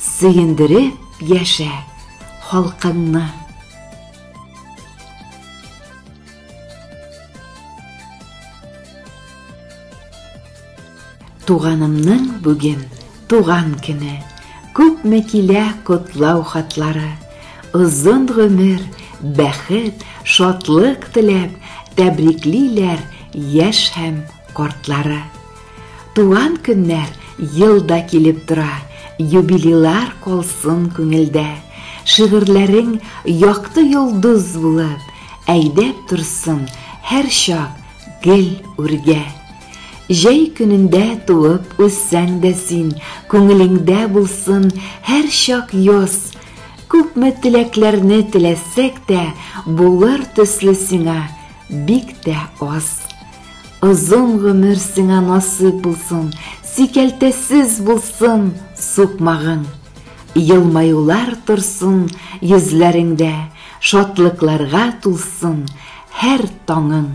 Сөендереп яшә халкыңны. Туганымның бүген туган көне. Күпме килә котлау хатлары. Озын гомер, бәхет, шатлык теләп, тәбриклиләр яшь һәм картлары. Туган көннәр ел да килеп тора, Юбилейлар калсын күңелдә. Шигырьләрең якты йолдыз булып, Әйдәп торсын һәрчак гел үргә. Җәй көнендә туып үссәң дә син, Күңелеңдә булсын һәрчак яз. Күпме теләкләрне теләсәк тә, Булыр төсле сиңа бик тә аз. Озын гомер сиңа насыйп булсын, сикәлтәсез булсын сукмагың. Елмаюлар торсын йөзләреңдә, шатлыкларга тулсын һәр таңың.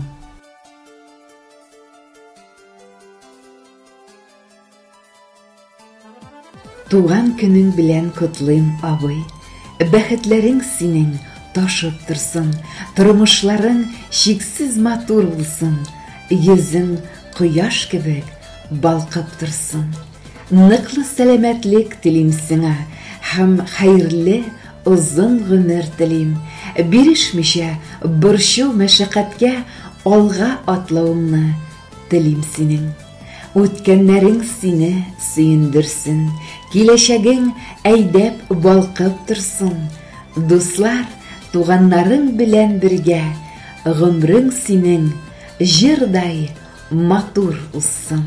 Туган көнең белән котлыйм, абый! Бәхетләрең синең ташып торсын, тормышларың чиксез матур булсын, йөзең кояш кебек балкып торсын. Ныклы сәламәтлек телим сиңа һәм хәерле озын гомер телим. Бирешмичә, борчу, мәшәкатькә алга атлавыңны телим синең. Үткәннәрең сине сөендерсен, Киләчәгең әйдәп, балкып торсын. Дуслар, туганнарың белән бергә Гомрең синең җырдай матур узсын.